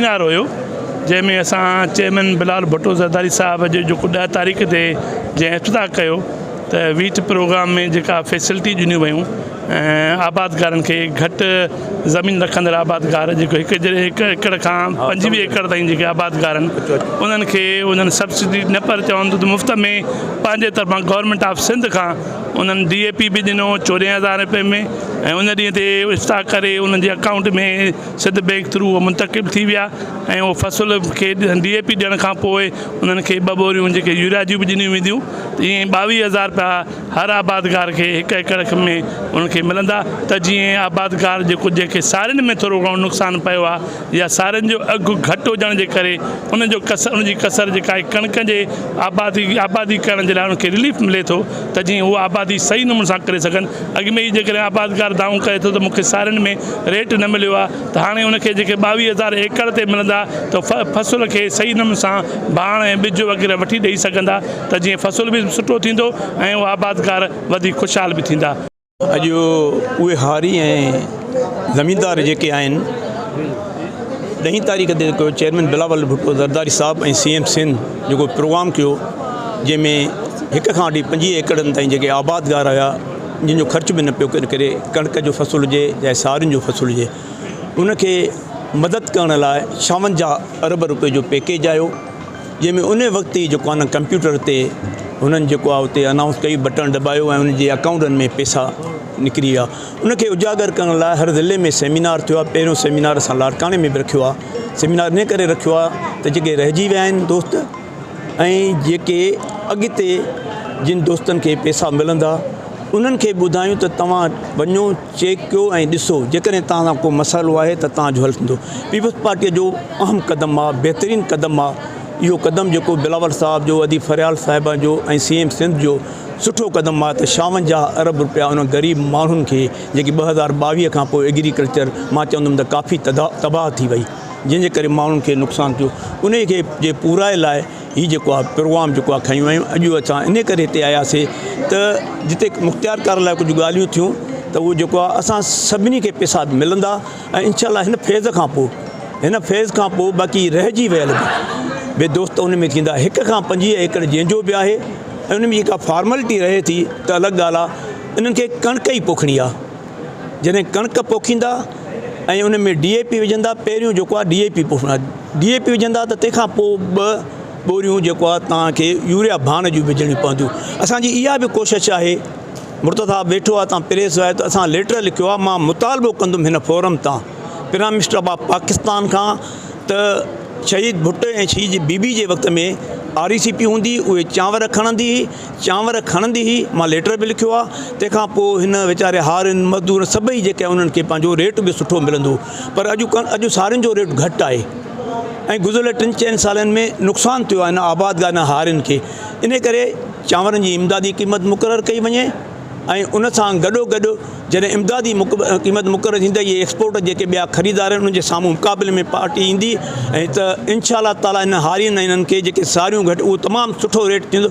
Seminar هيو جنهن ۾ اسان چيئرمين بلال ڀٽو زرداري صاحب جو جيڪو ڏهه تاريخ تي جنهن افتتاح ڪيو ته ويچ پروگرام ۾ جيڪا فيسلٽي ڏنيون ويون آبادگارن کي گهٽ زمين رکندڙ آبادگار جيڪو هڪ هڪ ايڪڙ کان پنجويهه ايڪڙ تائين جيڪي آبادگار آهن انهن کي انهن سبسڊي نه پر چون ٿو ته مفت ۾ پنهنجي طرفان گورنمينٽ آف سنڌ کان انهن ڊي اي پي به ڏنو چوريهن هزار رپئي ۾ ۽ ان ڏينهن تي اشتهاء ڪري انهن جي اڪائونٽ ۾ سنڌ بئنڪ ٿرو اهو منتقل ٿي ويا ۽ اهو فصل کي ڊي اي پي ڏيڻ کان پوء انهن کي ٻه ٻوريون جيڪي يوريا جون به ڏنيون وينديون ته ائين ٻاويهه هزار رپيا هر آبادگار کي هڪ ايڪڙ ۾ ان کي ملندا ته جيئن آبادگار جي ڪجهه کي سارين ۾ ٿورو گهڻو نقصان پيو آهي يا سارين جو اگهه گهٽ هجڻ جي ڪري ان جو ڪسر ان جي ڪسر جيڪا آهي ڪڻڪ جي آبادي آبادي ڪرڻ جي لاء ان کي رليف ملي ٿو ته جيئن هو آبادي صحيح نموني سان ڪري سگهن اڳ ۾ ئي جيڪڏهن آبادگار دانهون ڪري ٿو ته مون کي سارين ۾ ريٽ نه مليو آهي ته هاڻي ان کي جيڪي ٻاويهه هزار ايڪڙ تي ملندا ته فصل کي صحيح نموني سان ڀاڻ ۽ ٻج وغيره وٺي ڏئي سگهندا ته جيئن فصل به سٺو ٿيندو ۽ اهي آبادگار وڌيڪ خوشحال به ٿيندا. اڄ اهي هاري ۽ زميندار جيڪي آهن ڏهين تاريخ تي جيڪو چيئرمين بلاول ڀٽو زرداري صاحب ۽ سي ايم سنڌ جيڪو پروگرام ڪيو جنهن ۾ هڪ کان وٺي پنجويهه ايڪڙن تائين جيڪي آبادگار هيا جن جو خرچ به نه پيو ڪري ڪڻڪ جو فصل هجي يا سارين جو فصل هجي ان کي مدد ڪرڻ لاء ڇاونجاهه ارب روپئي جو پيڪيج آيو جنهن ۾ ان وقت ئي جيڪو آهي نه ڪمپيوٽر تي هنن جيڪو آهي اتي انائونس ڪئي بٽڻ دٻايو ۽ انهن جي اڪائونٽن ۾ پئسا نڪري ويا ان کي اجاگر ڪرڻ لاء هر ضلعي ۾ سيمينار ٿيو آهي پهريون سيمينار اسان لاڙڪاڻي ۾ به رکيو آهي سيمينار ان ڪري رکيو آهي ته جيڪي رهجي ويا آهن دوست ۽ جيڪي اڳتي جن دوستن کي پئسا ملندا انهن کي ٻڌايون ته توهان وڃو چيڪ ڪيو ۽ ڏسو جيڪڏهن توهان سان ڪو مسئلو آهي ته توهان جو حل ٿيندو پيپلز پارٽي جو اهم قدم آهي بهترين قدم آهي اهو قدم جيڪو بلاول صاحب جو ادي فريال صاحب جو ۽ سي ايم سنڌ جو سٺو قدم آهي ته شاونجاهه ارب روپيا انهن غريب ماڻهن کي جيڪي ٻه هزار ٻاويهه کان پوء ايگريڪلچر مان چوندم ته ڪافي تباهه ٿي وئي جنهن جي ڪري ماڻهن کي نقصان ٿيو انهي کي جي پورائي لاء هي جيڪو آهي پروگرام جيڪو آهي کنيون ويون اڄ اسان ان ڪري هتي آياسي ته جتي مختيار ڪار لاء ڪجهه ڳالهيون ٿيون ته اهو جيڪو آهي اسان سڀني کي پيسا ملندا ۽ انشاء الله هن فيز کان پوء هن فيز کان پوء باقي رهجي ويل به دوست ان ۾ ٿيندا هڪ کان پنجويهه ايڪڙ جنهنجو به آهي ۽ ان ۾ جيڪا فارملٽي رهي ٿي ته الڳ ڳالهه آهي انهن کي ڪڻڪ ئي پوکڻي آهي جڏهن ڪڻڪ پوکيندا ۽ ان ۾ ڊي اي پي وجهندا پهريون جيڪو آهي ڊي اي پي پوکيندا ڊي اي پي وجهندا ته تنهنکان پوء ٻه ٻوريون جيڪو آهي تنهنکي يوريا ڀاڻ جون وجهڻيون پونديون اسانجي اها به ڪوشش آهي مرتضي صاحب ويٺو آهي تان پريس آهي ته اسان ليٽر لکيو آهي مان مطالبو ڪندم هن فورم تان پرائم منسٽر آف پاڪستان کان ته شهيد ڀٽو ۽ شهيد جي بي بي جي وقت ۾ آر اي سي پي هوندي اهي چانور کڻندي چانور کڻندي هئي، مان ليٽر به لکيو آ، تنهن کان پوء هن ويچاري هارين، مزدورن سڀئي جيڪي آهن انهن کي پنهنجو ريٽ به سٺو ملندو هو پر اڄ اڄ سارين جو ريٽ گهٽ آهي ۽ گذريل ٽن چئن سالن ۾ نقصان ٿيو آهي هن آبادگار ۽ هارين کي انهي ڪري چانورن جي امدادي قيمت مقرر ڪئي وڃي ۽ ان سان گڏو گڏ جڏهن امدادي قيمت مقرر ٿيندي اهي ايڪسپورٽ جيڪي ٻيا خريدار آهن انهن جي سامهون مقابلي ۾ پارٽي ايندي ۽ ته انشاء الله تعالي انهن هارين ۽ انهن کي جيڪي ساريون گهٽ اهو تمام سٺو ريٽ ٿيندو